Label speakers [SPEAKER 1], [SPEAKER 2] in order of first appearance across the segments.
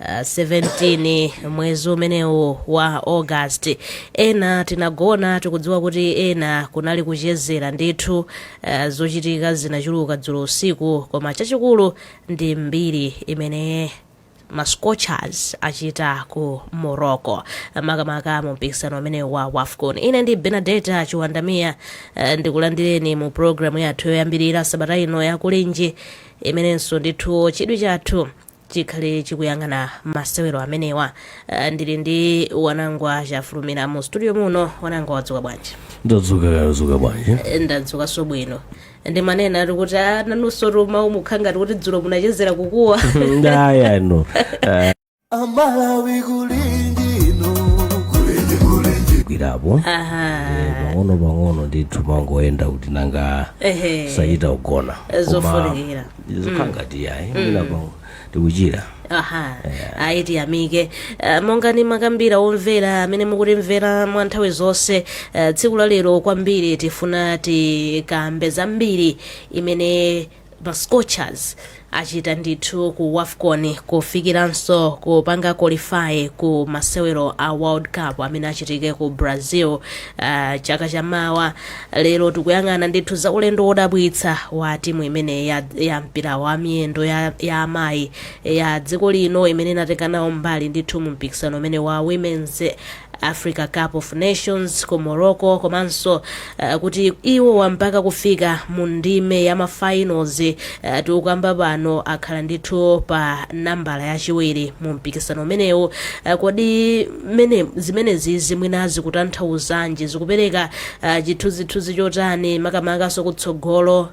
[SPEAKER 1] Uh, 17 mwezi umenewu wa august ena tinagona tikudziwa kuti ena kunali kuchezera ndithu uh, zochitika zinachuluka dzulo usiku koma chachikulu ndi mbiri imene mascorchers achita ku morocco makamaka mu mpikisano umenewu wa wafcon ine ndi benadeta chiwandamiya uh, ndikulandireni mu programu yathu yoyambirira sabata ino ya kulinji imenenso ndithu chidwi chathu chikhale chikuyang'ana masewero amenewa uh, ndili ndi wanangwa chafulumira mu studio muno wanangwa wadzuka bwanji ndadzuka wadzuka
[SPEAKER 2] bwanji Eh, ndadzukanso bwino
[SPEAKER 1] ndimanena ati kuti "Ah, nanunso timau mukakhala ngati kuti dzulo munachezera kukuwa nde
[SPEAKER 3] ayi no amalawi kulinji no kulinji
[SPEAKER 2] kulinji gwirapo aha pang'ono pang'ono ndithu mangoyenda kuti nanga ehe sitinagone Koma zofunikira
[SPEAKER 1] zikhala mm.
[SPEAKER 2] ngati yayi mwina mm. pano tikuchira aha
[SPEAKER 1] yeah. ayi tiyamike uh, monga nimakambira omvera amene mukutimvera mwa nthawi zonse uh, tsiku la lero kwambiri tifuna tikambe za mbiri imene ma scorchers achita ndithu ku wafcon kufikiranso kupanga qualify ku masewero a world cup amene achitike ku brazil uh, chaka chamawa Lero tikuyang'ana ndithu za ulendo wodabwitsa wa timu imeneyi ya, ya mpira wa miyendo ya, ya amayi ya dziko lino imene inatenga nawo mbali ndithu mu mpikisano umenewu wa Women's Africa Cup of Nations ku Morocco komanso uh, kuti iwo mpaka kufika mu ndime ya mafinals uh, tikukamba pano akhala ndithu pa nambala yachiwiri mu mpikisano umenewu uh, kodi zimene zimenezi zimwina zikutanthauzanji zikupereka ah, chithunzithunzi chotani makamakanso ku tsogolo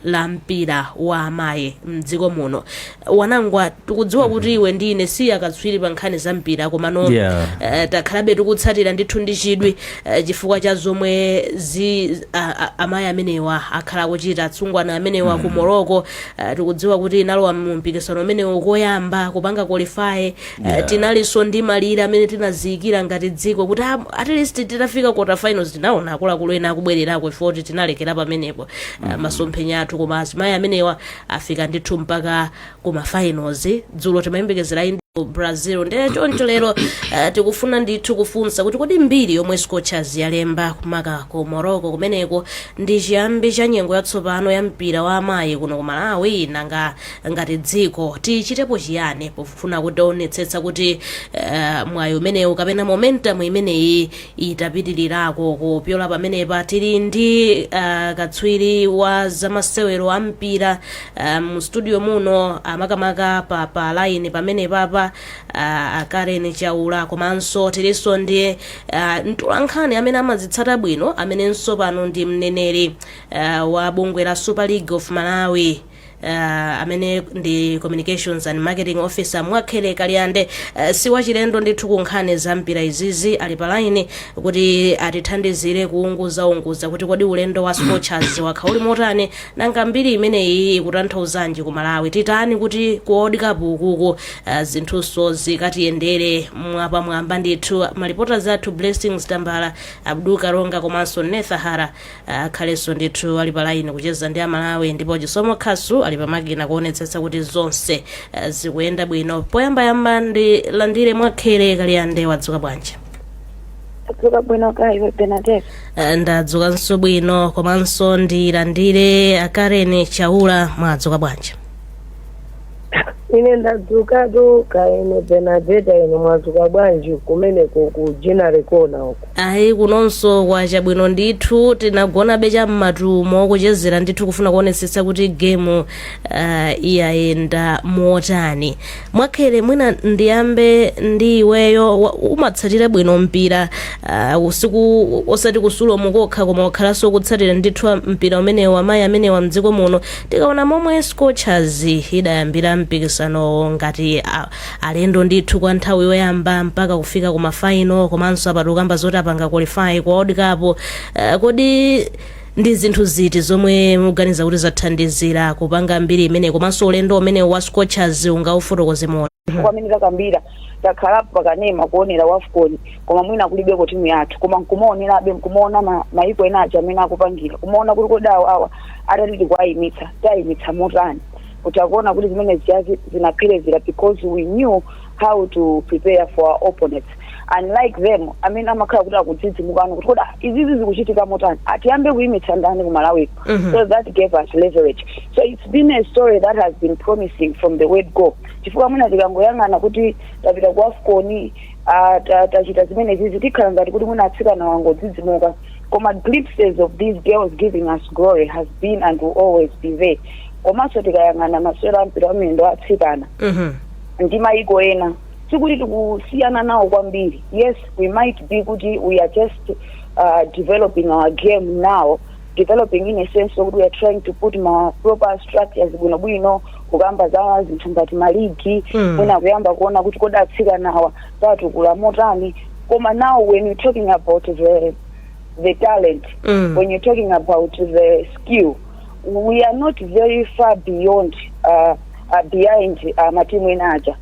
[SPEAKER 1] la mpira wa amayi mdziko muno wanangwa tikudziwa kuti iwe ndi ine si akatswiri pa nkhani za mpira komano Yeah. eh, takhalabe tikutsatira ndithu ndi chidwi eh, chifukwa cha zomwe zi a- a- amayi amenewa akhala akuchita atsungwana amenewa ku morocco eh, tikudziwa kuti inalowa mu mpikisano umenewu koyamba kupanga qualify Eh, Yeah. tinalinso ndi malire amene tinaziyikira ngati dziko kuti ah, at least titafika quarter finals tinaona akuluakulu ena akubwererako ife oti tinalekera pamenepo Ah, masomphenya athu koma azimayi amenewa afika ndithu mpaka kuma finals dzulo timayembekezera ndi ku brazil ndiye choncho lero eh, tikufuna ndithu kufunsa kuti kodi mbiri yomwe scorchers yalemba makamaka ku morocco kumeneko ndi chiyambi cha nyengo yatsopano ya mpira wa amayi kuno ku malawi nanga Ngati dziko, tichitepo chiyani pofuna kuonetsetsa kuti uh, mwayi umenewu kapena momentum imeneyi itapitilirako kupyola pamenepa tili ndi uh, katswiri wa zamasewero a mpira uh, mu studio muno amakamaka pa pa line pamenepapa uh, Karen Chaula komanso tilinso ndi uh, mtolankhani amene amazitsata bwino amenenso pano ndi mneneri uh, wa bungwe la Super League of Malawi Uh, amene ndi communications and marketing officer mwakhele kaliande uh, si wachilendo ndithu ku nkhani za mpira izizi ali pa laini kuti atithandizire kuunguzaunguza kuti kodi ulendo wa scorchers wakhala uli motani nanga mbiri imeneyi ikutanthauzanji ku malawi titani kuti ku world cup ukuku uh, zinthunso zikatiyendere mwapamwamba ndithu malipota zathu blessings tambala abdul karonga komanso nethahara akhalenso ndithu ali pa line kucheza ndi amalawi ndipo chisomo khasu ali pamakina kuonetsetsa kuti zonse eh, zikuyenda bwino poyambayamba ndilandire mwakhele kaliande wadzuka bwanji Ndadzuka
[SPEAKER 4] bwino kaya iwe Benadetta. Eh,
[SPEAKER 1] ndadzukanso bwino komanso ndilandire a Karen Chaula mwadzuka bwanji
[SPEAKER 4] ine ndadzuka kaya inu benadeta inu mwadzuka bwanji kumeneko ku ginnery corner uko ayi kunonso
[SPEAKER 1] kwacha bwino ndithu tinagonabe cha mmatumo kuchezera ndithu kufuna kuonetsetsa kuti gemu uh, iyayenda motani mwakhele mwina ndiyambe ndi iweyo wa- umatsatira bwino mpira uh, usiku osati ku sulomu kokha koma wakhalanso ukutsatira ndithu mpira umenewu wa amayi amenewa mdziko muno Tikaona momwe Scorchers idayambira mpikisanowo ngati a- alendo ndithu kwa nthawi yoyamba mpaka kufika ku mafaino komanso apa tikukamba zoti apanga qualify ku World Cup eh, kodi ndi zinthu ziti zomwe mukuganiza kuti zathandizira kupanga mbiri imeneyi komanso ulendo umenewu wa Scorchers ungaufotokoze mu chifukwa mmene
[SPEAKER 4] takambira takhala pakanema kuonera wafcon koma mwina kulibeko timu yathu koma nkumaonerabe nkumaona ma- maiko ena aja mmene akupangira kumaona kuti kodi awa awa atati
[SPEAKER 5] titi kuwayimitsa tiwayimitsa motani ndiye mukuona kuti zimene zijazi zinapherezera because we knew how to prepare for our opponents unlike them amene amakhala kuti akudzidzimukano kuti kodi ah, izizi zikuchitika motani atiyambe kuyimitsa ndani ku malawi Mhm. so that gave us leverage so it's been a story that has been promising from the word go chifukwa mwina tikangoyang'ana kuti tapita ku afcon ah, ta- tachita zimenezizi tikhala ngati kuti mwina atsikanawa angodzidzimuka koma glimpses of these girls giving us glory has been and will always be there komanso tikayang'ana masewero a mpira wa miyendo wa atsikana Mhm. ndi maiko ena sikuti tikusiyana nawo kwambiri yes we might be kuti we are just uh, developing our game now developing in a sense okuti we are trying to put ma proper structures bwinobwino kukamba za zinthu ngati maligi Mm. mwina kuyamba kuona kuti kodi atsikanawa tiwatukula motani koma now when you're talking about the the talent Mm. when you're talking about the skill we are not very far beyond uh, uh, behind uh, matimu ena aja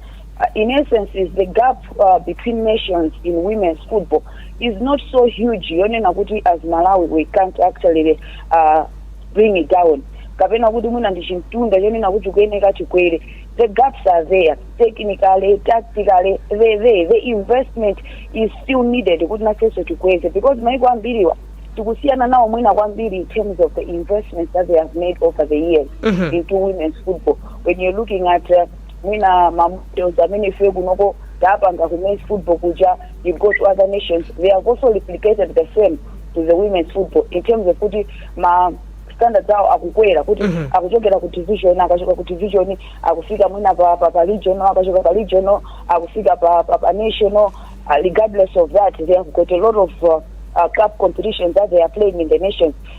[SPEAKER 5] in essence is the gap uh, between nations in women's football is not so huge yonena kuti as malawi we can't actually uh, bring it down kapena kuti mwina ndi chimtunda chonena kuti kuyeneka chikwere the gaps are there technically tactically the, the, the investment is still needed kuti nafenso tikweze because maiko ambiriwa tikusiyana nawo mwina kwambiri in terms of the investments that they have made over the years into women's football when you're looking at uh, mwina ma models amene ife kunoko tapanga ku men's football kuja you go to other nations they have also replicated the same to the women's football in terms of kuti ma standards awo akukwera kuti Mhm. akuchokera ku division akachoka ku division akufika mwina pa, pa, pa regional akachoka pa regional akufika pa, pa, pa national uh, regardless of that they have got a lot of uh, uh, cup competitions that they are playing in the nations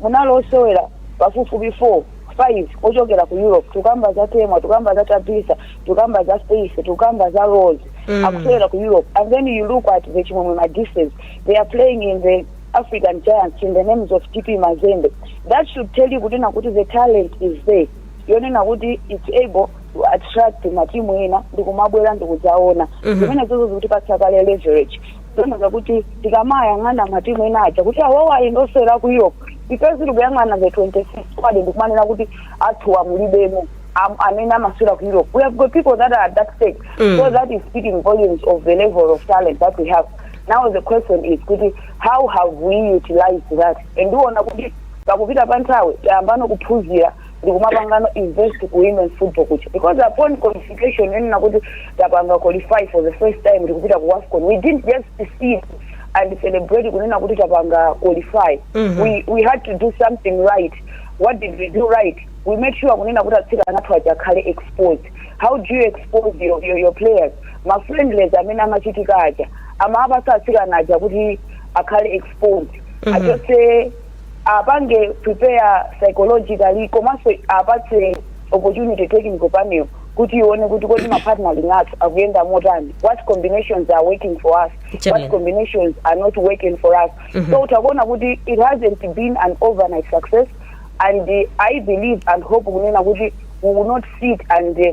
[SPEAKER 5] Munali osewera pafupifupi 4, 5 ochokera ku Europe. Tikukamba za Temwa, tikukamba za Tabitha, tikukamba za Faith, tikukamba za Rose. Mm. Akusewera ku Europe. And then you look at the Chimwemwe Madises. They are playing in the African Giants in the names of TP Mazembe. That should tell you kunena kuti the talent is there. Yonena kuti it's able to attract matimu ena ndikumabwera ndikudzaona. Mhm. Zimene izozo zikutipatsa kale leverage. zonena kuti tikamayang'ana matimu ena aja kuti awawa ali ndi osewera ku europe ife tili kuyang'ana the 26 squad ndikumanena kuti athuwa mulibemo am- amene amasewera ku europe we have got people that are at that stage Mm. so that is speaking volumes of the level of talent that we have now the question is kuti how have we utilized that and ndiona kuti pakupita kwa nthawi tayambano kuphunzira ndikumapangano invest ku women's football kuja because upon qualification yonena kuti tapanga qualify for the first time tikupita ku wafcon we didn't just sit and celebrate kunena kuti tapanga qualify Mhm. we, we had to do something right what did we do right we made sure kunena kuti atsikana athu aja akhale exposed how do you expose your, your, your players mafriendlies amene amachitika aja amawapatsa atsikana aja kuti akhale exposed Mhm. achose apange prepare psychologically komanso apatse opportunity technical panel kuti ione kuti kodi ma partnering athu akuyenda motani what combinations are working for us Chabwino. what combinations are not working for us so mutha kuona kuti it hasn't been an overnight success and uh, i believe and hope kunena kuti we will not sit and uh,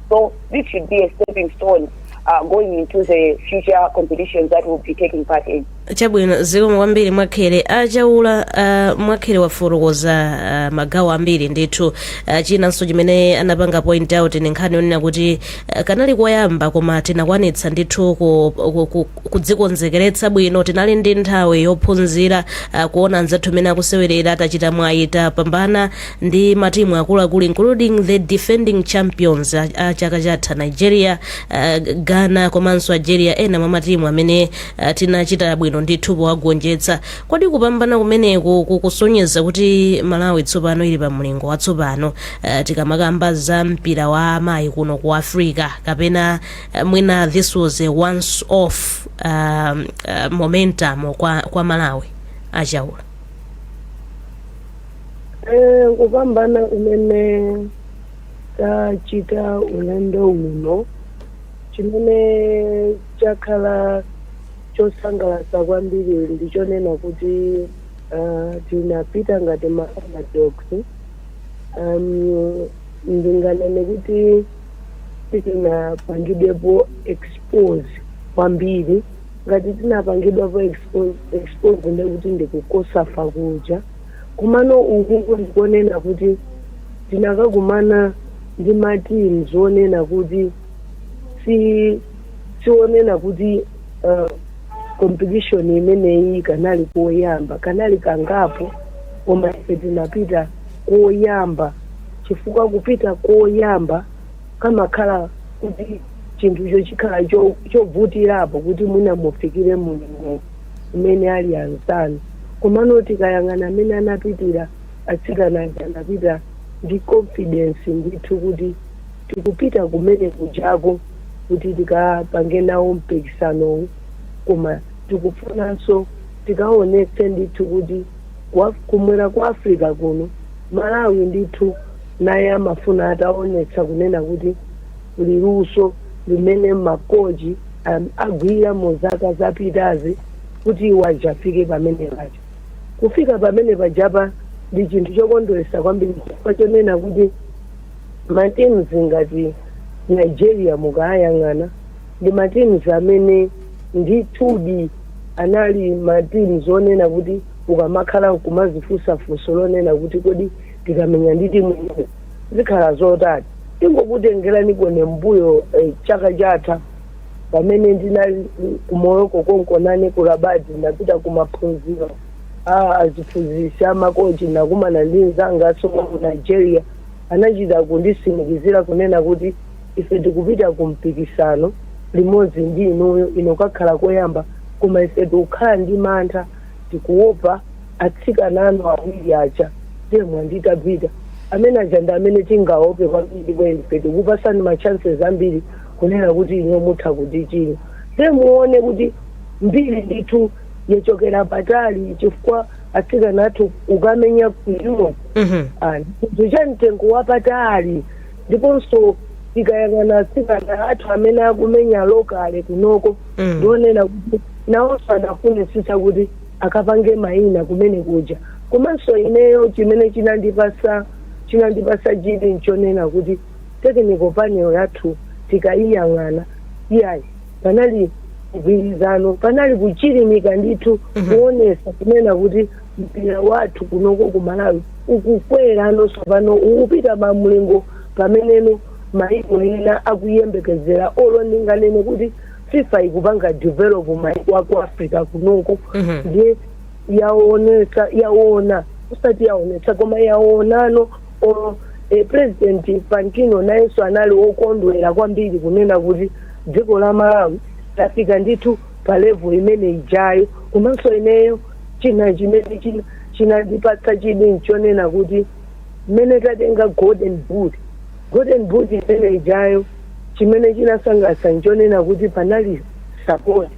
[SPEAKER 5] So this should be a stepping stone uh, going into the future competitions that we'll be taking part in.
[SPEAKER 1] chabwino zikomo kwambiri mwakhele achaula uh, mwakhele wafotokoza uh, magawo ambiri ndithu uh, chinanso chimene anapanga point out ndi nkhani yonena kuti uh, kanali koyamba koma tinakwanitsa ndithu ku- ku- ku- kudzikonzekeretsa bwino tinali ndi nthawi yophunzira uh, kuona anzathu mmene akusewerera tachita mwayi tapambana ndi matimu akuluakulu including the defending champions a, a chaka chatha nigeria uh, ghana komanso algeria ena mwa matimu amene uh, tinachita bwino ndithu powagonjetsa kodi kupambana kumeneku kukusonyeza kuti malawi tsopano ili pa mlingo watsopano uh, tikamakamba za mpira wa amayi kuno ku africa kapena uh, mwina this was a once off um, uh, momentum kwa, kwa malawi achaula
[SPEAKER 4] Eh, kupambana kumene tachita ulendo uno chimene chakhala chosangalatsa kwambiri ndi chonena kuti ah, tinapita ngati ma underdogs um, ndinganene kuti sitinapangidwepo expose kwambiri ngati tinapangidwapo expose, expose ndekuti ndi ku cosafa kuja Komano uku ndi konena kuti tinakakumana ndi ma teams onena kuti si- si onena kuti uh, competition imeneyi kanali koyamba kanali kangapo koma ife tinapita koyamba chifukwa kupita koyamba kamakhala kuti chinthucho chikhala cho- chovutirapo kuti mwina mufikire mulingo umene ali anzanu komano tikayang'ana mmene anapitira atsikana aja anapita ndi confidence ndithu kuti tikupita kumene kujako kuti tikapange nawo mpikisanowu koma tikufunanso tikaonetse ndithu kuti kwa- kumwera kwa africa kuno malawi ndithu naye amafuna ataonetsa kunena kuti Kuli luso limene ma coach agwira mu zaka zapitazi kuti iwo adzafike pamene paja. Kufika pamene pajapa ndi chinthu chokondweretsa kwambiri chifukwa chonena kuti ma teams ngati Nigeria mukaayang'ana ndi ma teams amene ndithudi anali ma teams onena kuti ukamakhala nkumadzifunsa funso lonena kuti kodi tikamenya ndi timu imene zikhala zotani. Tingokutengerani konko mmbuyo eh, chaka chatha pamene ndinali ku Morocco konko nane ku Rabat ndinapita ku maphunziro a aziphunzitsi a makochi ndinakumana ndi mzanga asoma ku Nigeria anachita kunditsimikizira kunena kuti ife tikupita ku mpikisano limodzi ndi inuyo inu kakhala koyamba koma ife tikukhala ndi mantha tikuopa atsikana anu awiri aja temwa ndi tabita amene aja ndi amene tingaope kwambiri ndipo ife tikupasani ma chances ambiri kunena kuti inu mutha kutichinya nde muone kuti mbiri ndithu yachokera patali chifukwa atsikana athu akumenya ku europe Mhm. Ah, chinthu chamtengo wapatali ndiponso tikayang'ana atsikana athu amene akumenya lokale kunoko Mm. ndionena kuti nawonso adafunitsitsa kuti akapange mayina kumene kuja komanso ineyo chimene chinandipasa chinandipasa chidwi nchonena kuti technical panel yathu tikayiyang'ana iyayi panali mgwirizano panali kuchilimika ndithu Mhm. kuonesa kunena kuti mpira wathu kunoko ku malawi ukukwera nonso pano ukupita pamlingo pameneno maiko ena akuyembekezera olo ndinganene kuti fifa ikupanga develop maiko aku africa kunoko Mhm. ndiye yaonesa yaona usati yaonesa koma yaonano olo eh, president infantino nayenso anali okondwera kwambiri kunena kuti dziko la malawi lafika ndithu pa level imene ijayo komanso ineyo china chimene china chinandipatsa chidwi nchonena kuti mmene tatenga golden boot golden boot imene ijayo chimene chinasangalatsa nchonena kuti panali support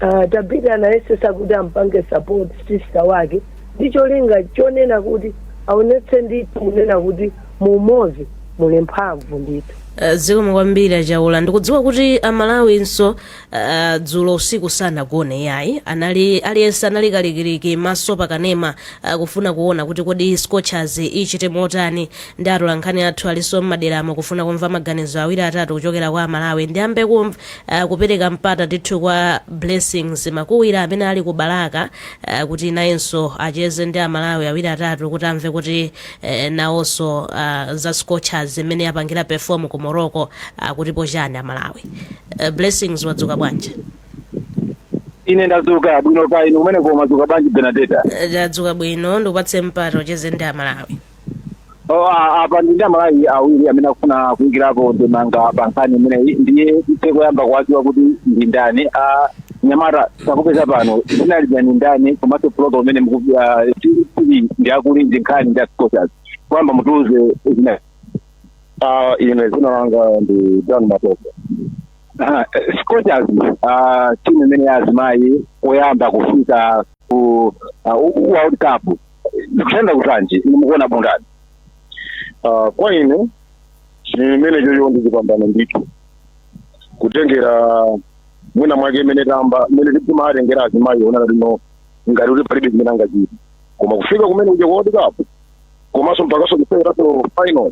[SPEAKER 4] uh, tabita anayesesa kuti ampange support sister wake ndi cholinga chonena kuti aonetse ndithu kunena kuti mu umodzi muli mphamvu ndithu Eh,
[SPEAKER 1] zikomo kwambiri achaula ndikudziwa kuti amalawinso Uh, dzulo usiku sanagone yayi anali aliyense anali kalikiliki maso pakanema uh, kufuna kuona kuti kodi scorchers ichite motani ndi atolankhani athu alinso mmaderamo kufuna kumva maganizo awiri atatu kuchokera kwa amalawi ndiyambe kumva uh, kupereka mpata ndithu kwa blessings makuwira amene ali ku balaka uh, kuti nayenso acheze ndi amalawi awiri atatu kuti amve kuti uh, nawonso uh, za scorchers mmene yapangira perform ku morocco uh, akutipo chani amalawi Uh, blessings wadzuka
[SPEAKER 6] bwanji? ine ndazuka bwino kaya inu kumeneko mwazuka bwanji benadeta Uh, Ndadzuka bwino
[SPEAKER 1] ndikupatse mpata ucheze ndi amalawi. Oh, a-
[SPEAKER 6] apa ndi ndi amalawi awiri amene akufuna kuyikirapo ndemanga pa nkhani imeneyi ndiye tithe koyamba kuwadziwa kuti ndi ndani anyamata takupezani pano dzina lija ndi ndani komanso program umene muku- ah, ti- tili ndi akuli ndi nkhani ndi a scorchers koyamba mutiuze zina Ah, ine dzina langa ndi Dan Matope. Ah, eh, Scorchers ah, timu imene ya azimayi oyamba kufika ku ah, u- u- World Cup zikuyenda kutanji inu mukuona bundani
[SPEAKER 7] Ah, kwa ine chimene imene chocho ndi chipambano ndithu kutengera mwina mwake mmene tamba mmene timawatengera azimayi onana lino ngati kuti palibe chimene angachite koma kufika kumene kuja kwa World Cup komanso mpakaso kusewerapo final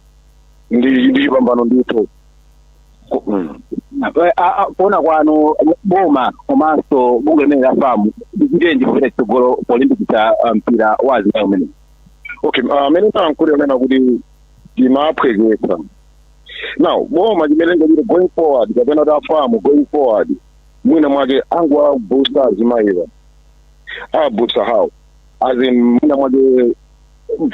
[SPEAKER 7] ndi ndi chipambano ndithu Ko-
[SPEAKER 6] mm. Eh, a- a- kuona kwanu boma komanso bungwe limene la FAM lichitenji kupita chitsogolo polimbikitsa ah, mpira wa azimayi umene okay ah,
[SPEAKER 7] mmene ndayankhula kunena kuti timaphwekesa now boma chimene lingachite going forward kapena kuti a FAM going forward mwina mwake angowabusta azimayiwa awabusta how as in mwina mwake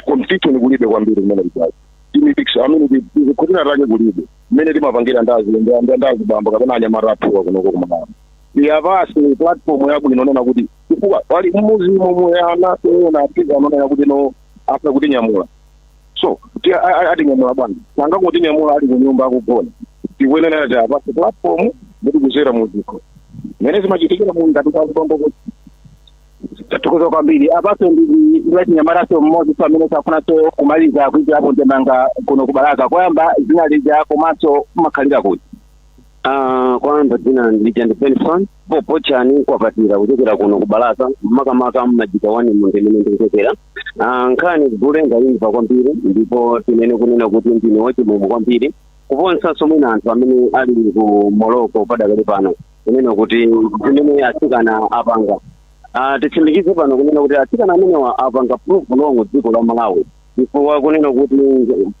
[SPEAKER 7] competition kulibe kwambiri kumene kujazi timipikisano amene tikhutina take kulibe mmene timapangira ndi azi- nda- nda- ndi azibambo kapena anyamata athuwa kunoko ku Malawi awapatse platform yabwino kunena kuti chifukwa pali mmuzimu omwe ana ena apika anonena kuti no afuna kutinyamula so ti- a- a- atinyamula bwanji nanga kutinyamula ali kunyumba akugona tikuyenera tiwapatse platform kuti kudzera mudziko mmene zimachitikira mu ngati kwa azibambo kuti Tathokoza kwambiri apanso ndili ndi wachinyamatanso mmodzinso amene afunanso kumaliza kuikirapo ndemanga kuno ku Balaka koyamba dzina lija komanso mumakhalira kuti Ah,
[SPEAKER 8] koyamba dzina lija ndi Benson Popochani Kwapatira kuchokera kuno ku Balaka makamaka mMajiga wani mu ndimene ndikuchokera Ah, nkhani gule ndayimva kwambiri ndipo tinene kunena kuti ndine wachimwemwe kwambiri kuposanso mwina anthu amene ali ku Morocco padakali pano kunena kuti zimene atsikana apanga Ah, titsimikize pano kunena kuti atsikana amenewa apanga prove wrong dziko la Malawi chifukwa kunena kuti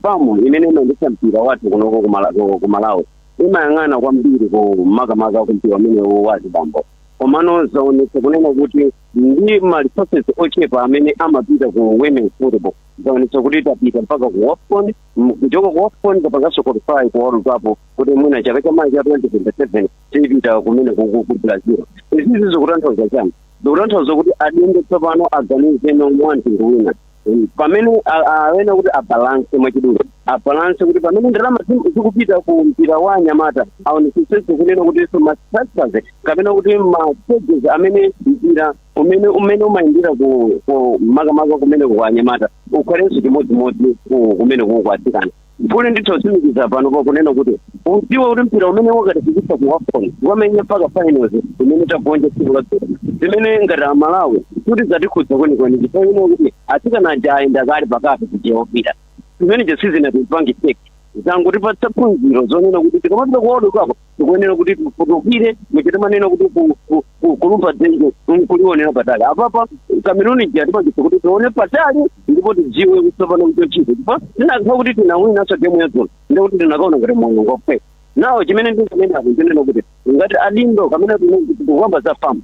[SPEAKER 8] FAM imene imayendetsa mpira wathu kunoko ku Mala- ku- ku Malawi imayang'ana kwambiri ku makamaka ku mpira umenewo wa azibambo komano zaonetsa kunena kuti ndi ma resources ochepa amene amapita ku women football zaonetsa kuti tapita mpaka ku WAFCON m- kuchoka ku WAFCON tapanganso qualify ku World Cup kuti mwina chaka cha mawa cha 2027 tipita kumene kuku ku Brazil izizi zikutanthauza chani zikutanthauza kuti adindo tsopano aganizeno mwa mtundu wina Mm, pamene a- a- awena kuti abalanse mwachidule abalanse kuti pamene ndalama zi- zikupita ku mpira wa anyamata aonetsetse kunena kutinso mastructures kapena kuti mastages amene mpira umene umene umayendera ku ku- makamaka kumene ku anyamata ukhalenso chimodzimodzi ku- kumene kuku atsikana Gule ndithu otsimikiza pano pakunena kuti udziwa kuti mpira umene wakatifikitsa ku wafcon wamenya mpaka finals imene tagonja tsiku la dzulo zimene ngati amalawi kuti zatikhudza kwenikweni chifukwa ine kuti atsikana aja ayenda kale pakati kujeopita zimenezo sizinatipange shake zangotipatsa phunziro zonena kuti tikamapita ku world cup tikuyenera kuti tifutukule muja timanena kuti ku- ku- ku- kulumpha dzenje kulionera patali apapa kameruni ija yatipangitsa kuti tione patali ndipo tidziwe kuti tsopano chochita chifukwa tinakha kuti tinawinanso gemu yadzulo ndiye kuti tinakaona ngati moyo ngophweka now chimene ndinganenapo nchonena kuti ngati adindo kapena tikukamba za fam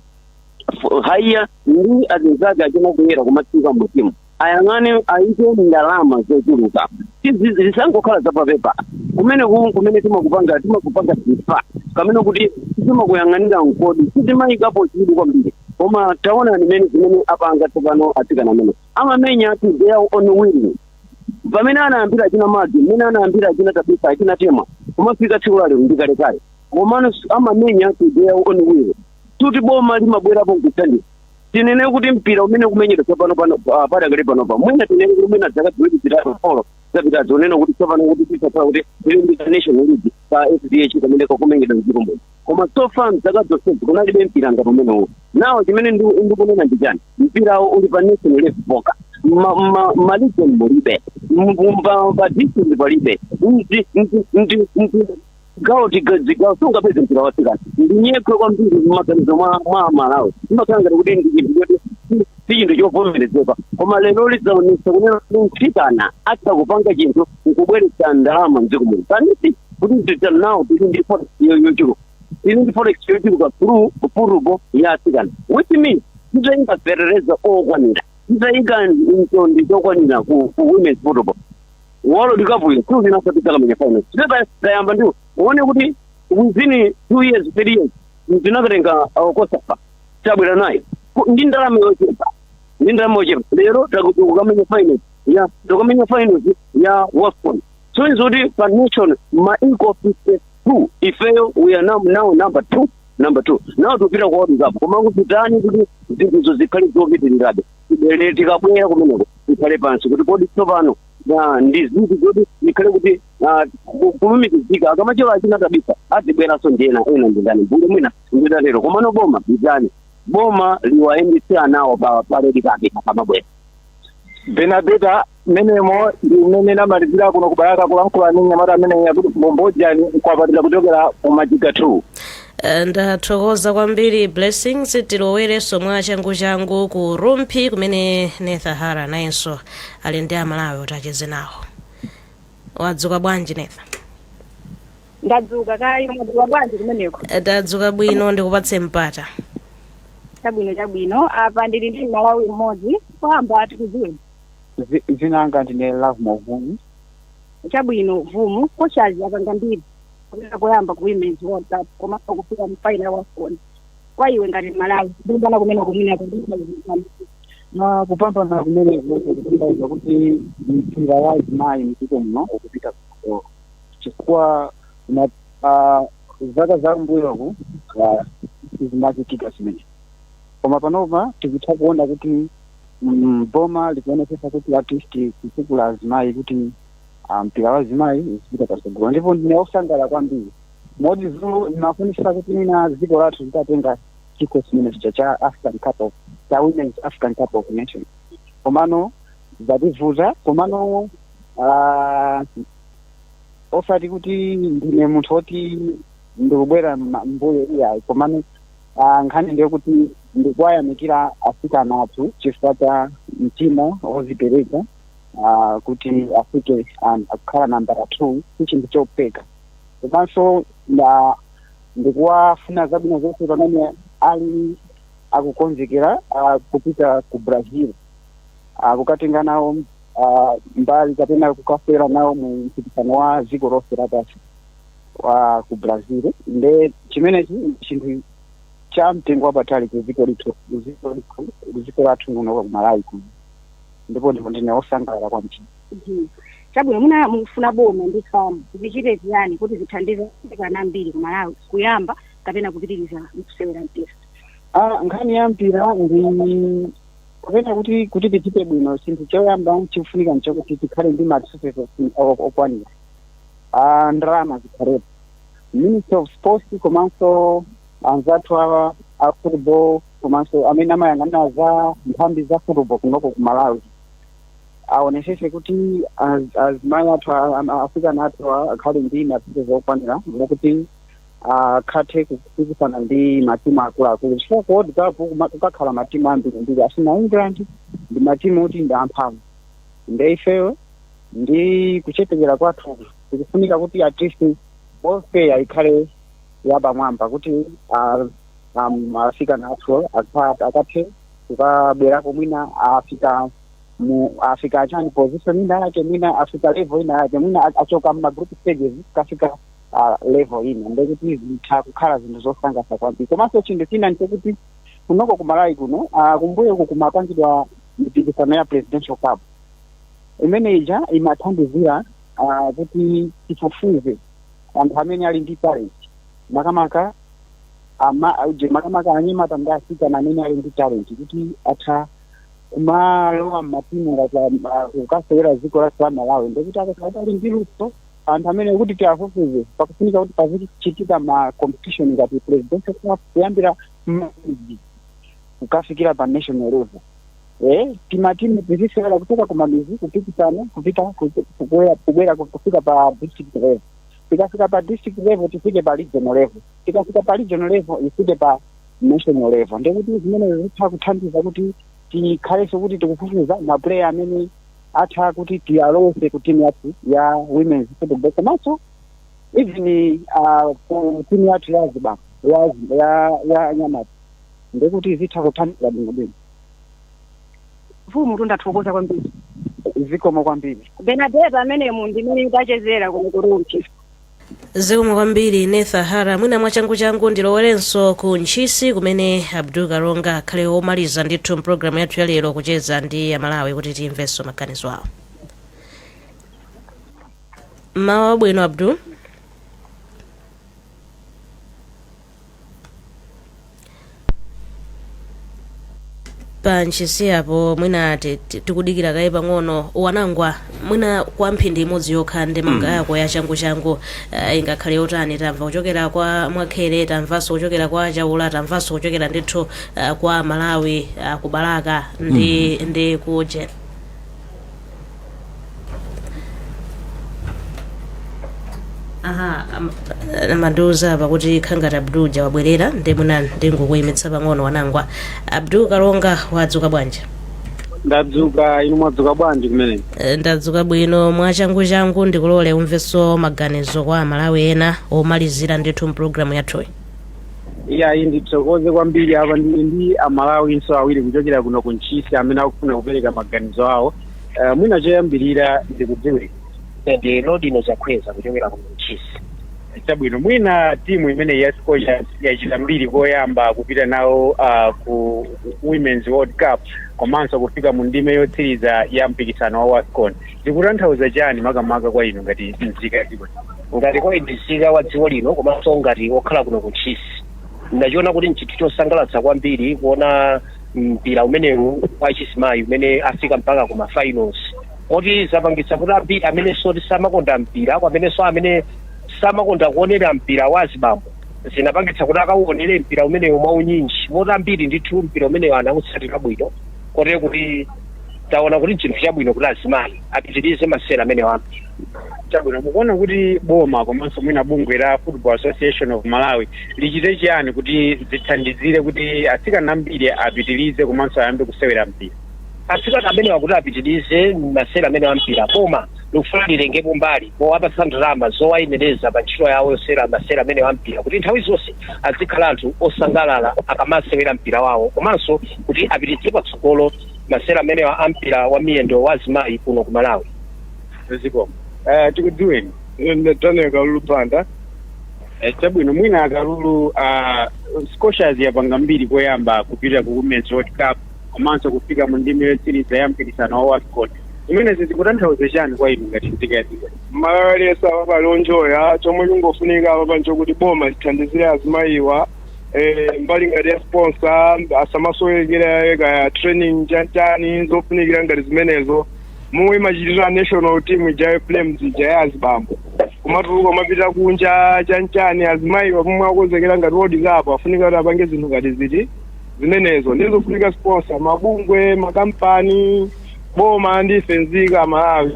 [SPEAKER 8] haiya ndi azinzake achina akuyenera kumatsika mmudzimu ayang'ane ayike ndalama zochuluka Tizi- zisangokhala zapapepa kumene kuku kumene timakupanga timakupanga sifa kapena kuti timakuyang'anira mkodi sitimayikapo chidwi kwambiri koma taonani mmene zimene apanga tsopano atsikana amene amamenya to their own will pamene anayambira achina maggie mmene anayambira achina tabitha achina temwa kumafika tsiku la lero ndikalekale komano amamenya to their own will kuti boma limabwerapo nkuthandiza tinene kuti mpira umene ukumenyedwa tsopano pano ah, padakali panopa mwina tinene kuti mwina dzaka ziwiri zitatu folo zapitazi kunena kuti tsopano kuti tisakhala kuti tili ndi ka national league ka fdh kamene kakumenyedwa mdziko muno koma so far mdzaka zonsezi kunalibe mpira ngati umenewu now chimene ndi- ndikunena ndi chani mpirawo uli pa national level pokha ma- ma- maregion mulibe M- pa pa district palibe Ndi- ndi- ndi- ndi- gawo tiga- zigawo sungapeze mpira wa atsikana ndinyekhwe kwambiri mmaganizo mwa mwa amalawi imakhala ngati kuti ndi chinthu choti si- si chinthu chovomerezeka koma lero lidzaonesa kunena kuti mtsikana atha kupanga chinthu nkubweretsa ndalama mdziko muno kanisi kuti tita nawo tili ndi forex yo- yochuluka tili ndi forex yochuluka through football ya atsikana which means titayika fetereza okwanira titayika mtondi zokwanira ku ku women's football world cup yo tuzina kuti takamenya final sibeba tayamba ndi uone kuti within two years three years tinakatenga cosafa tabwera nayo Ku- ndi ndalama yochepa ndi ndalama yochepa lero takuti ukamenya final ya tokamenya final ya wafcon so izo kuti pa nation ma equal 52 ifeyo we are now, now number two number two now tikupita ku world cup koma titani kuti zinthuzo zikhale zopitirirabe tibwere tikabwera kumeneko tikhale pansi kuti kodi tsopano ah, ndi ziti zoti tikhale kuti ah, ku- kulumikizika akamachoka achina tabitha azibweranso ndi ena ena ndi ndani mmbuyo mwina nditatero komano boma litani boma liwayendetse anawo pa red carpet akamabwera
[SPEAKER 6] benadeta mmenemo ndi mmene namalizira kuno ku Balaka kulankhula ndi mnyamata amene akuti bambo Jani Nkwapatira kuchokera ku majiga 2 Eh, ndathokoza
[SPEAKER 1] kwambiri blessings tilowerenso mwa changuchangu ku rumphi kumene netha hara nayenso ali ndi Amalawi kuti acheze nawo wadzuka bwanji
[SPEAKER 9] netha ndadzuka kaya mwadzuka bwanji kumeneko Eh, tadzuka bwino
[SPEAKER 1] ndikupatse mpata chabwino
[SPEAKER 9] chabwino apa ndili ndi Mmalawi mmodzi choyamba tikudziweni Dzi-
[SPEAKER 10] dzina langa ndine love movumu
[SPEAKER 9] chabwino vumu Scorchers yapanga mbiri kupita koyamba ku women's world cup komanso kufika mu final ya wafcon kwa iwe ngati Mmalawi kupambana kumeneku akundikuzikana
[SPEAKER 10] na kupambana kumeneku kukutanthauza kuti mpira wa azimayi mdziko muno ukupita kutsogolo chifukwa na ah, zaka za mbuyoku ah, sizimachitika zimenezi koma panopa tikutha kuona kuti mm, boma likuonetsetsa kuti at least kutukula azimayi kuti ah, mpira wa azimayi uzipita patsogolo ndipo ndine osangalala kwambiri moti zulu ndimafunisisa kuti mwina dziko lathu litatenga chikho chimenecho cha african cup of cha women's african cup of nation komano zativuta komano ah, osati kuti ndine munthu woti ndikubwera mma- mbuyo iyayi komano Ah, nkhani ndi yokuti ndikuwayamikira asikana athu chifukwa cha mtima wozipereka ah, kuti afike ah, kukhala nambala two si chinthu chophweka komanso nda- ndikuwafuna zabwino zonse pamene ali akukonzekera ah, kupita ku brazil ah, kukatenga nawo ah, mbali kapena kukasewera nawo mu mpikisano wa dziko lonse lapansi wa ku brazil nde chimenechi ndi chinthu cha mtengo wapatali ku dziko ku dziko lathu ku malawi kuno ndipo ndipo ndine wosangalala kwambiri chabwino
[SPEAKER 9] muna mukufuna boma ndi FAM zichite chiyani kuti zithandize atsikana ambiri ku malawi kuyamba kapena kupitiriza kusewera mpira Ah,
[SPEAKER 10] nkhani ya mpira ndi kapena kuti kuti tichite bwino chinthu choyamba chikufunika nchokuti tikhale ndi ma resources okwanira a ndalama zikhalepo ministry of sports komanso anzathu awa a football komanso amene amayang'anira za nthambi za football kunoko ku malawi aonesese kuti az- azimayi athu a- a- asikana athu a- akhale ndi ma resources okwanira mokuti akathe kupikisana ndi matimu akuluakulu chifukwa ku world cup kuma- kukakhala matimu ambirimbiri achina england ndi matimu oti ndi amphamvu nde ifeyo ndi kuchepekera kwathu zikufunika kuti at least welfare ikhale yapamwamba kuti ah, am- asikana athu akha- akathe kukabwerako mwina afika mu afika achani position ina yake mwina afika level ina yake mwina a- achoka mma group stages kafika ah, level ina ndekuti zitha kukhala zinthu zosangalatsa kwambiri komanso chinthu china ndichokuti kunoko ku malawi kuno ah, kumbuyoku kumapangidwa mipikisano ya presidential cup imene ija imathandizira ah, kuti tifufuze anthu amene ali ndi talent makamaka ama- auje makamaka anyamata ndi asikana amene ali ndi talent kuti atha kumalowa mmatimu ngati ah, kukasewera dziko la malawi ndikuti akakhala ali ndi luso anthu amene kuti tiwafufuze pakufunika kuti pazichitika ma competition ngati presidential cup kuyambira mmamizi kukafikira pa national level eh timatimu tizisewera kuchoka kumamizi kupikisana kupita ku- kubwera kubwera kufika pa district level tikafika pa district level tifike pa regional level tikafika pa regional level tifike pa national level ndekuti zimenezo zitha kuthandiza kuti tikhalenso kuti tikufufuza maplayer amene atha kuti tiwalowetse ku team yathu ya women's football komanso even uh, ku team yathu ya ziba- ya ya ya anyamata ndekuti zitha kuthandiza bwino bwino
[SPEAKER 9] mfumu tathokoza kwambiri zikomo
[SPEAKER 10] kwambiri benadeta
[SPEAKER 9] amenewo ndi amene ndachezera kuno ku rumphi
[SPEAKER 1] zikomo kwambiri netha hara mwina mwachanguchangu ndilowerenso ku ntchisi kumene abdul kalonga akhale omaliza ndithu mpulogalamu yathu yalero kucheza ndi amalawi kuti timvenso maganizo awo mmawa wabwino abdul pa ntchisi apo mwina ti- ti- tikudikira kaye pang'ono wanangwa mwina kwa mphindi imodzi yokha ndemanga yako ya changuchangu uh, ingakhale yotani tamva kuchokera kwa mwakhere tamvanso kuchokera kwa a chaula tamvanso kuchokera ndithu uh, kwa amalawi a ku balaka ndi, ndi kuje aha a- akundiuza apa kuti zikukhala ngati abdul uja wabwerera nde mwina ndingokuyimitsa pang'ono wanangwa abdul kalonga wadzuka bwanji ndadzuka
[SPEAKER 10] inu mwadzuka bwanji kumene Eh, ndadzuka
[SPEAKER 1] bwino mwachanguchangu ndikulole umvenso maganizo kwa amalawi ena omalizira ndithu mpulogalamu yathuyi iyayi
[SPEAKER 10] ndithokoze kwambiri apa ndili ndi amalawinso awiri kuchokera kuno ku ntchisi amene akufuna kupereka maganizo awo uh, mwina choyambirira ndikudziweni
[SPEAKER 11] ndi lodino chakhweza kuchokera kuno ku ntchisi
[SPEAKER 10] chabwino mwina timu imeneyi ya scorchers yachita mbiri koyamba kupita nawo uh, ku women's world cup komanso kufika mu ndime yotsiriza ya mpikisano wa wafcon zikutanthauza chani makamaka kwa inu ngati nzika ya dziko ngati citizen
[SPEAKER 11] wa dziko lino komanso ngati okhala kuno ku ntchisi ndachiona kuti nchinthu chosangalatsa kwambiri kuona mpira umenewu wa chizimayi umene afika mpaka ku mafinals moti zapangitsa kuti ambiri amenenso oti samakonda mpira kwamenenso amene samakonda kuonera mpira wa azibambo zinapangitsa kuti akauonere mpira umenewu mwaunyinji moti ambiri ndithu mpira umenewu anautsatira bwino kotero kuti taona kuti nchinthu chabwino kuti azimayi apitirize masewera amenewa ampira Chabwino,
[SPEAKER 10] mukuona kuti boma komanso mwina bungwe la Football Association of Malawi lichite chiyani kuti zithandizire kuti atsikana ambiri apitirize komanso ayambe kusewera mpira? atsikana
[SPEAKER 11] amenewa kuti apitirize masewera amenewa ampira boma likufuna litengepo mbali powapatsa ndalama zowayenereza pa ntchito yawo yosewera masewera amenewa ampira kuti nthawi zonse azikhala anthu osangalala akamasewera mpira wawo komanso kuti apititse patsogolo masewera amenewa ampira wa miyendo wa azimayi kuno ku malawi
[SPEAKER 10] zikomo Eh, tikudziweni Ine
[SPEAKER 7] daniel kalulu banda Eh,
[SPEAKER 10] chabwino mwina akalulu ah, scorchers yapanga mbiri koyamba kupita ku women's world cup komanso kufika mu ndime yotsiriza ya mpikisano wa wafcon zimenezi zikutanthauza chani kwa inu ngati nzika ya dziko mmalawi
[SPEAKER 7] aliyense apa wanjoya chomwe chingofunika apapa nchokuti boma lithandizire azimayiwa eh, mbali ngati ya sponsor asamasowekera kaya training chanichani zofunikira ngati zimenezo momwe imachitira national team ija ya flames ija ya azibambo kumatuluka kumapita kunja chanchani azimayiwa pomwe akonzekera ngati world cup afunika kuti apange zinthu ngati ziti zimenezo ndi zofunika sponsor mabungwe makampani boma ndi ife nzika amalawi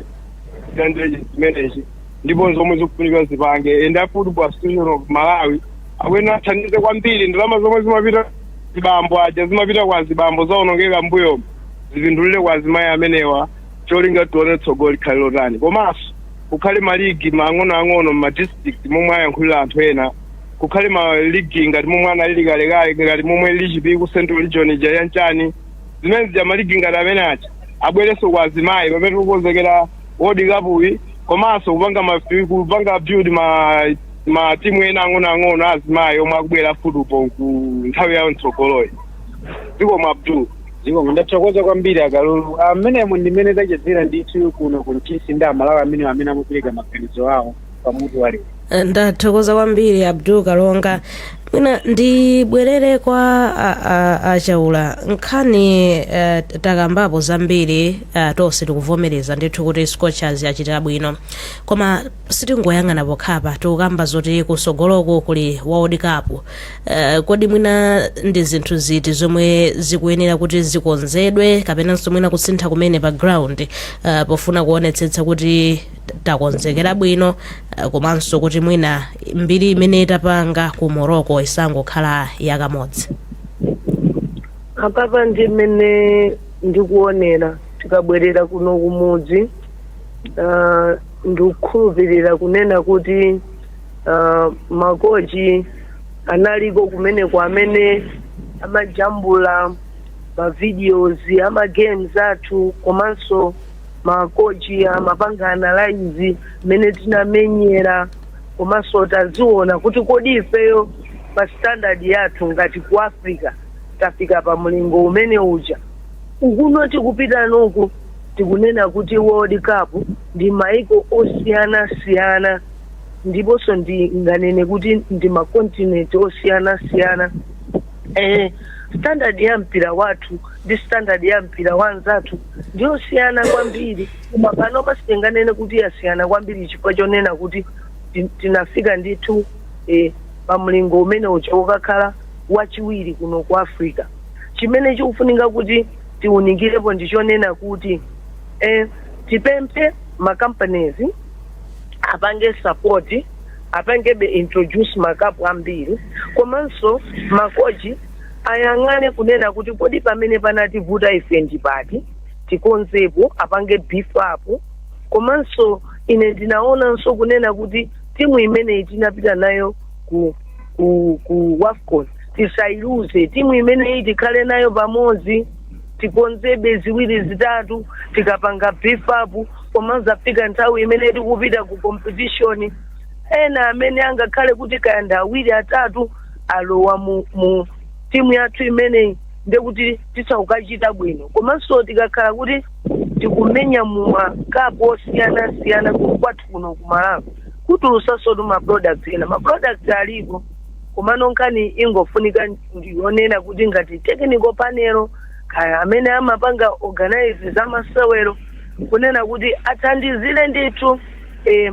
[SPEAKER 7] tilandire zimenezi ndipo zomwe zikufunika zipange and a football association of malawi akuyenera athandize kwambiri ndalama zomwe zimapita kwa azibambo aja zimapita kwa azibambo zaonongeka m'mbuyomo zipindulire kwa azimayi amenewa cholinga tione tsogolo likhale lotani komanso kukhale maligi ang'onoang'ono mma district momwe ayankhulira anthu ena kukhale maligi ngati momwe analili kalekale ngati momwe lili chipiku ku central region ija chanchani zimene zija maligi ngati amene aja abwerenso kwa azimayi pamene tikukonzekera world cup uyi komanso kupanga ma kupanga build ma ma timu ena ang'onoang'ono azimayi omwe akubwera football ku nthawi yawo mtsogoloyi zikomo kwambiri zikomo
[SPEAKER 10] ndathokoza kwambiri akalulu amenemo ndimene tachezera ndithu kuno ku ntchisi ndi amalawi amene amene amapereka maganizo awo pamutu wa lero
[SPEAKER 1] ndathokoza kwambiri abdul kalonga mwina ndibwerere kwa a- a- achaula nkhani eh, takambapo zambiri eh, tonse tikuvomereza ndithu kuti scorchers yachitira bwino koma sitingoyang'ana pokhapa tikukamba zoti kusogoloko kuli world cup uh, kodi mwina ndi zinthu ziti zomwe zikuyenera kuti zikonzedwe kapenanso mwina kusintha kumene pa ground uh, pofuna kuonetsetsa kuti takonzekera bwino uh, komanso kuti mwina mbiri imene tapanga ku morocco isangokhala
[SPEAKER 4] yakamodzi apapa ndi mmene ndikuonera tikabwerera kuno kumudzi ah, ndikukhulupirira kunena kuti uh, makochi analiko kumeneko amene amajambula mavideos a magames athu komanso makochi amapanga analyze mmene tinamenyera komanso taziona kuti kodi ifeyo pa standard yathu ngati ku africa tafika pa mlingo umene uja Ukuno tikupita nako tikunena kuti World Cup ndi maiko osiyanasiyana ndiponso ndinganene kuti ndi ma continent osiyanasiyana eh, standard ya mpira wathu ndi standard ya mpira wa anzathu ndi yosiyana kwambiri koma panopa sitinganene kuti yasiyana kwambiri chifukwa chonena kuti ti- tinafika ndithu eh, pa mlingo umene uja ukakhala wachiwiri kuno ku africa chimene chikufunika kuti tiunikirepo ndi chonena kuti eh, tipemphe makampanizi apange support apangebe introduce makapu ambiri komanso makochi ayang'ane kunena kuti kodi pamene panativuta ife ndi pati tikonzepo apange beef up komanso ine ndinaonanso kunena kuti timu imeneyi tinapita nayo ku ku, ku wafcon tisailuze timu imeneyi tikhale nayo pamodzi tikonzebe ziwiri zitatu tikapanga beef up pomazafika nthawi imene tikupita ku competition ena amene angakhale kuti kaya ndi awiri atatu alowa mu, mu timu yathu imeneyi ndekuti tizakachita bwino komanso tikakhala kuti tikumenya mu makapu osiyanasiyana kwathu kuno ku malawi kutulusansotu maproduct ena maproduct alipo komano nkhani ingofunika ndiyonena kuti ngati technical panel kaya amene amapanga organize za masewero kunena kuti athandizire ndithu eh,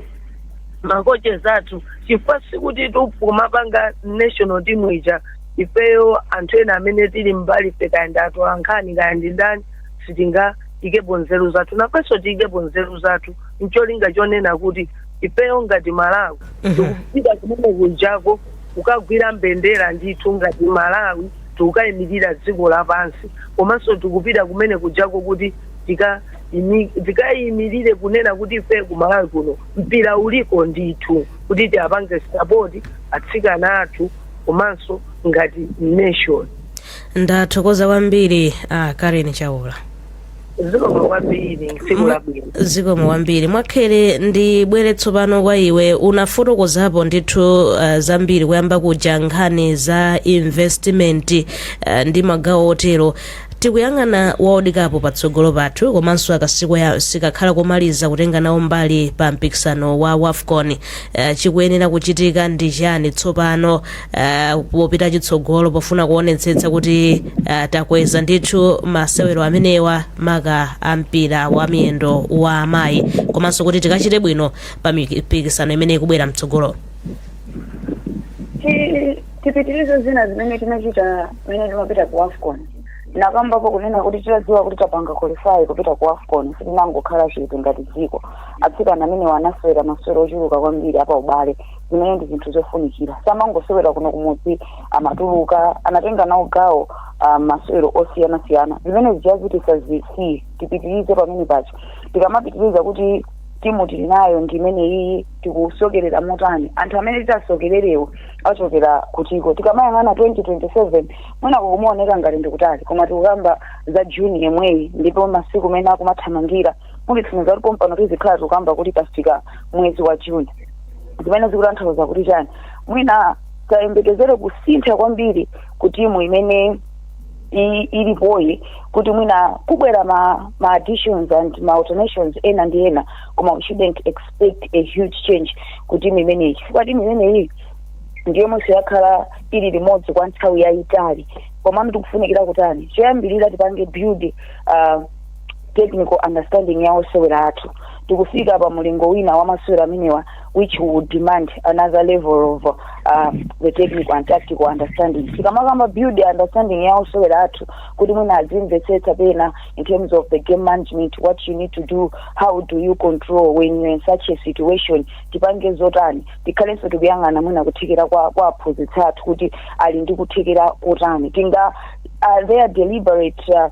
[SPEAKER 4] ma coaches athu chifukwa sikuti pomapanga national team ija ifeyo anthu ena amene tili mbali fe kaya ndi atolankhani kaya ndi ndani sitingaikepo nzeru zathu nafenso tiikepo nzeru zathu ncholinga chonena kuti ifeyo ngati malawi tikupita kumene kunjako kukagwira mbendera ndithu ngati malawi tikukayimirira dziko lapansi komanso tikupita kumene kunjako kuti tika- imi- tikayimirire kunena kuti ife ku malawi kuno mpira uliko ndithu kuti tiwapange sapoti atsikana athu komanso ngati nation ndathokoza
[SPEAKER 1] kwambiri a karen chaula
[SPEAKER 4] zikomo kwambiri tsiku labwino zikomo kwambiri
[SPEAKER 1] mwakhele ndibwere tsopano kwa iwe unafotokozapo ndithu uh, zambiri kuyamba kuja nkhani za investment uh, ndi magawo otero tikuyang'ana World Cup patsogolo pathu komanso akasiku ya sikakhala komaliza kutenga nawo mbali pa mpikisano wa wafcon uh, chikuyenera kuchitika ndi chani tsopano Uh, popita chitsogolo pofuna kuonetsetsa kuti uh, takweza ndithu masewero amenewa maka a mpira wa miyendo wa amayi komanso kuti tikachite bwino pa mipikisano imene ikubwera mtsogolo Ti-
[SPEAKER 5] tipitirize zina zimene tinachita mmene timapita ku wafcon nakambapo kunena kuti titadziwa kuti tapanga qualify kupita ku wafcon sitinangokhala chete ngati dziko atsikana amenewa anasewera masewero ochuluka kwambiri a paubale zimene ndi zinthu zofunikira samangosewera kuno kumudzi amatuluka anatenga nawo gawo ah, masewero osiyanasiyana zimene zija zisasiye tipitirize pamenepo tikamapitiriza kuti timu tili nayo ndi imene iyi tikusokerera motani anthu amene titasokererewo achokera kutiko tikamayang'ana 2027 mwina kukumaoneka ngati ndikutali koma tikukamba za june yemweyi ndipo masiku mmene akumathamangira munditsimikiza kuti pompano tizikhala tikukamba kuti tafika mwezi wa june zimene zikutanthauza kuti chani mwina tisayembekezere kusintha kwambiri ku timu imene i- ilipoyi kuti mwina kubwera ma, ma additions and ma alternations ena ndi ena koma we shouldn't expect a huge change ku timu imeneyi chifukwa timu imeneyi ndi yomweyi yakhala ili limodzi kwa nthawi yayitali komano tikufunikira kutani choyambirira tipange build uh, technical understanding ya osewera athu tikufika pa mulingo wina wa masewera amenewa which would demand another level of uh, the technical and tactical understanding tikamakamba build the understanding ya osewera athu kuti mwina azimvetsetsa pena in terms of the game management what you need to do how do you control when you're in such a situation tipange zotani tikhalenso tikuyang'ana mwina kuthekera kwa kwa aphunzitsi athu kuti ali ndi kuthekera kotani tinga are there deliberate uh,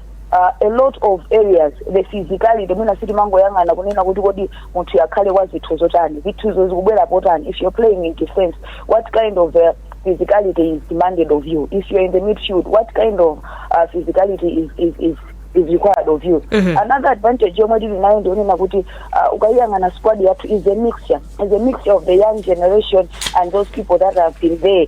[SPEAKER 5] uh, a lot of areas the physicality mwina sitimangoyang'ana kunena kuti kodi munthu akhale wadzitho zotani dzithozo zikubwerapo tani if you're playing in defense what kind of uh, physicality is demanded of you if you're in the midfield what kind of uh, physicality is, is, is is required of you Mhm. another advantage yomwe tili nayo ndi yonena kuti uh, ukayiyang'ana squad yathu is a mixture is a mixture of the young generation and those people that have been there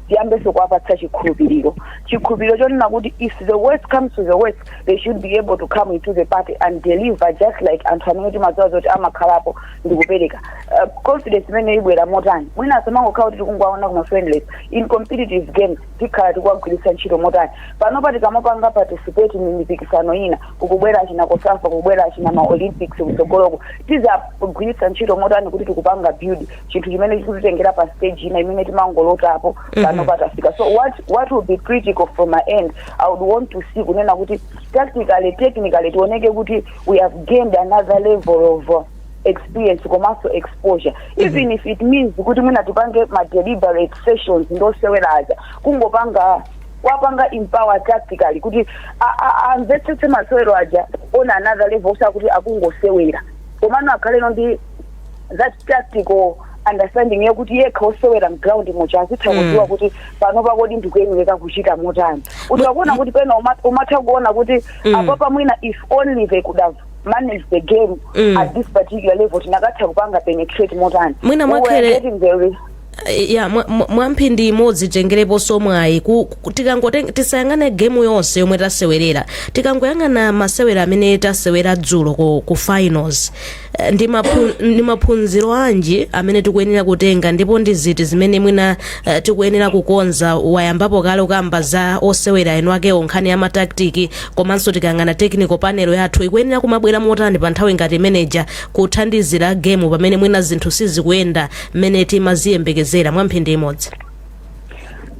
[SPEAKER 5] tiyambenso kuwapatsa chikhulupiriro chikhulupiriro chonena kuti if the worst comes to the worst they should be able to come into the party and deliver just like anthu amene timadziwa zoti amakhalapo ndikupereka uh, confidence imene ibwera motani mwina asamangokhala kuti tikungowaona kuma friendlies in competitive games tikhala tikuwagwiritsa ntchito motani panopa tikamapanga participate mu mipikisano ina kukubwera achina COSAFA kukubwera achina ma Olympics kutsogoloko tizagwiritsa ntchito motani kuti tikupanga build chinthu chimene chikutitengera pa stage ina imene timangolota panopa tafika so what, what would be critical from my end i would want to see kunena kuti tactically technically tioneke kuti we have gained another level of uh, experience komanso exposure even if it means kuti mwina tipange ma deliberate sessions ndi osewera aja kungopanga kuwapanga empower tactically kuti a- a- amvetsetse masewero aja on another level osakuti akungosewera komano akhaleno ndi that tactical understanding yakuti yekha osewera mground muja azitha kudziwa kuti panopa kodi ndikuyenera kuchita motani umatha kuona kuti pena uma- umatha kuona kuti apapa mwina if only they could have managed the game Mm. at this particular level tikanatha kupanga penetrate motani Mwina We were mwakhele-
[SPEAKER 1] getting the re- Eh, ya mwa- mwa- mwamphindi imodzi titengereponso mwayi ku- ku- tikangote- tisayang'ane gemu yonse yomwe tasewerera tikangoyang'ana masewera amene tasewera dzulo ku, ku finals Eh, ndi maphu- ndi maphunziro anji amene tikuyenera kutenga ndipo ndi ziti zimene mwina eh, tikuyenera kukonza wayambapo kale kukamba za osewera eni akewo nkhani ya mataktiki komanso tikayang'ana technical panel yathu ikuyenera kumabwera motani pa nthawi ngati imeneja kuthandizira gemu pamene mwina zinthu sizikuyenda mmene timaziyembekezera mwa mphindi imodzi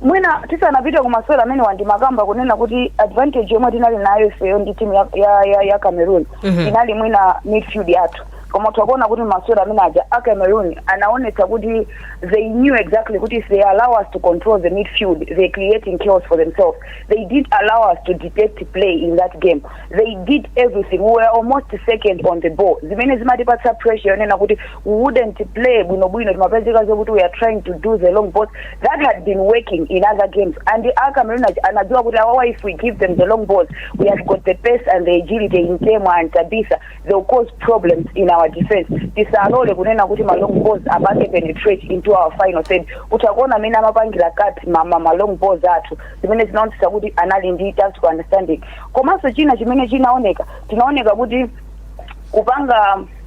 [SPEAKER 5] mwina tisanapite ku masewera amenewa ndimakamba kunena kuti advantage yomwe tinali nayo ifeyo ndi timu ya, ya, ya, ya cameroon Mhm. inali mwina midfield yathu koma tikuona kuti masewera amene aja a cameroon anaonetsa kuti they knew exactly kuti if they allow us to control the midfield they're creating chaos for themselves they didn't allow us to dictate play in that game they did everything we were almost second on the ball zimene zimatipatsa pressure yonena kuti we wouldn't play bwino bwino timapezeka zokuti we are trying to do the long balls that had been working in other games and a cameroon aja anadziwa kuti awawa if we give them the long balls we have got the pace and the agility in temwa and tabitha they will cause problems in our defense tisalole kunena kuti ma long balls apange penetrate into our final third kuti akuona mmene amapangira cut ma, ma, ma long balls athu zimene zinaonetsa kuti anali ndi tactical understanding komanso china chimene chinaoneka tinaoneka kuti kupanga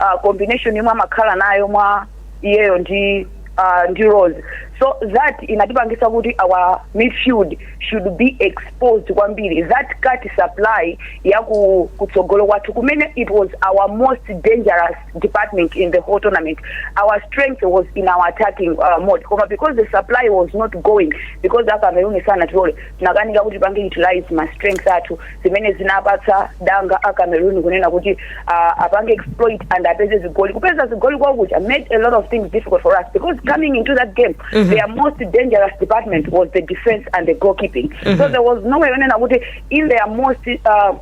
[SPEAKER 5] uh, combination yomwe amakhala nayo mwa iyeyo ndi uh, ndi rose so that inatipangisa kuti our midfield should be exposed kwambiri that cut supply ya ku- kutsogolo kwathu kumene it was our most dangerous department in the whole tournament our strength was in our attacking uh, mode koma because the supply was not going because a cameroon sanatilole tinakanika kuti tipange utilize ma strength athu zimene zinapatsa danga a Cameroon kunena kuti uh, apange exploit and apeze zigoli kupeza zigoli kwawo kuja made a lot of things difficult for us because coming into that game mm -hmm. their most dangerous department was the defense and the goalkeeping mm -hmm. so there was no way yonena kuti in their most uh,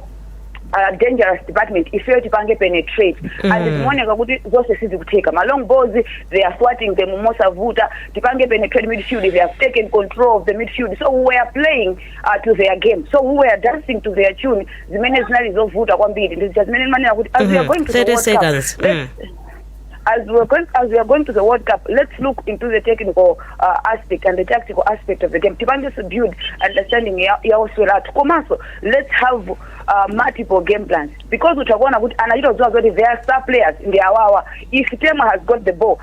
[SPEAKER 5] uh, dangerous department ifeyo tipange penetrate mm. and zikuoneka kuti zonse sizikutheka ma long balls they are swatting them mosavuta tipange penetrate midfield they have taken control of the midfield so we were playing uh, to their game so we were dancing to their tune zimene zinali zovuta kwambiri ndizija zimene ndimanena kuti as we are Mhm. going to the 30 World seconds. Cup, let's- Mm. as we are going as we are going to the World Cup, let's look into the technical uh, aspect and the tactical aspect of the game. Tipange to build understanding ya ya oswera athu. Komanso let's have uh, multiple game plans because utakuona kuti anachita kudziwa zoti their star players ndi awawa. If Tema has got the ball,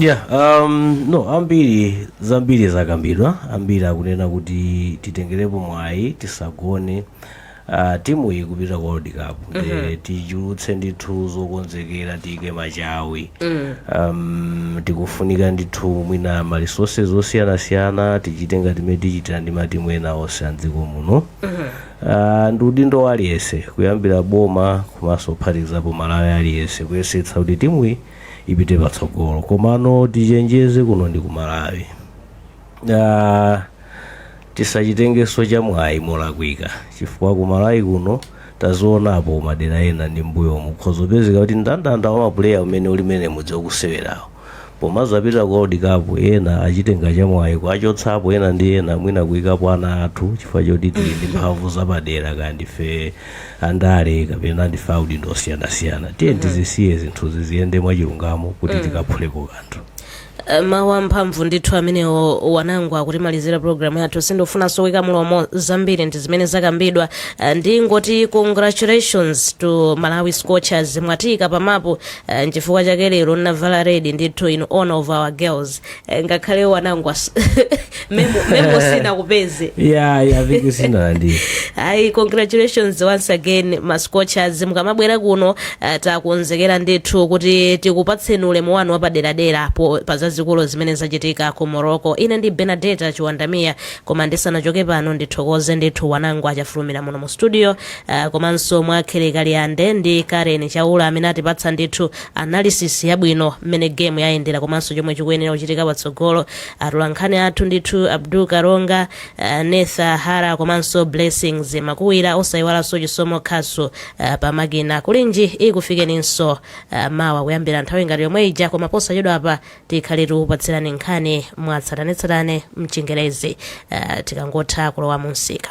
[SPEAKER 1] yeah
[SPEAKER 2] um, no ambiri zambiri zakambidwa ambiri akunena kuti titengerepo mwayi tisagone uh, timu iyi kupita ku world cup nde tichulutse ndithu zokonzekera tiyike machawi um, tikufunika ndithu mwina ma resources osiyanasiyana tichite ngati mmene tichitira ndi matimu ena onse a mdziko muno Ah, ndi udindo wa aliyense kuyambira boma komanso kuphatikizapo m'malawi aliyense kuyesetsa kuti timuyi ipite patsogolo komano tichenjeze kuno ndi kumalawi uh, tisachitengeso chamwayi molakwika chifukwa kumalawi kuno tazionapo madera ena ndi m'mbuyomu kukhoza kupezeka kuti ndandanda wa mapuleya umene ulimo ndi m'modzi wa osewerawo pomazapita ku world cup ena achitenga chamwayi kuachotsapo ena ndi ena mwina kuikapo ana athu chifukwa choti tili ndi mphamvu zapadera kaya ndife andale kapena ndife audindo osiyanasiyana tiyeni tizisiye zinthuzi ziyende mwachilungamo kuti tikaphuleko kanthu Eh, mawu
[SPEAKER 1] amphamvu ndithu amenewo wanangwa kutimalizira programu yathu sindifunanso kuika mlomo zambiri ndi zimene zakambidwa Eh, ndingoti congratulations to malawi scorchers mwatiika pamapu eh, nchifukwa chake lero ndinavala red ndithu in honor of our girls Eh, ngakhale iwo anangwa s- memo memo sinakupeze ya ya
[SPEAKER 2] viki sinalandira ayi
[SPEAKER 1] congratulations once again ma Scorchers mukamabwera kuno uh, takonzekera ndithu kuti tikupatseni ulemu wanu wapaderadera po- pa zazikulu zimene zachitika ku morocco ine ndi Benadetta Chiwandamira koma ndisanachoke pano ndithokoze ndithu Wanangwa Chafulumira muno mu studio uh, komanso Mwakhele Kaliyande ndi karen chaula amene atipatsa ndithu analysis yabwino mmene game yayendera komanso chomwe chikuyenera kuchitika patsogolo atolankhani athu ndithu abdul karonga uh, netha hara komanso blessings makuwira osayiwalanso chisomo khasu uh, pamakina kulinji ikufikeninso uh, mawa kuyambira nthawi ngati yomwe ija koma posachedwa apa tikhale tikupatsirani nkhani mwatsatanetsatane mchingerezi uh, tikangotha kulowa munsika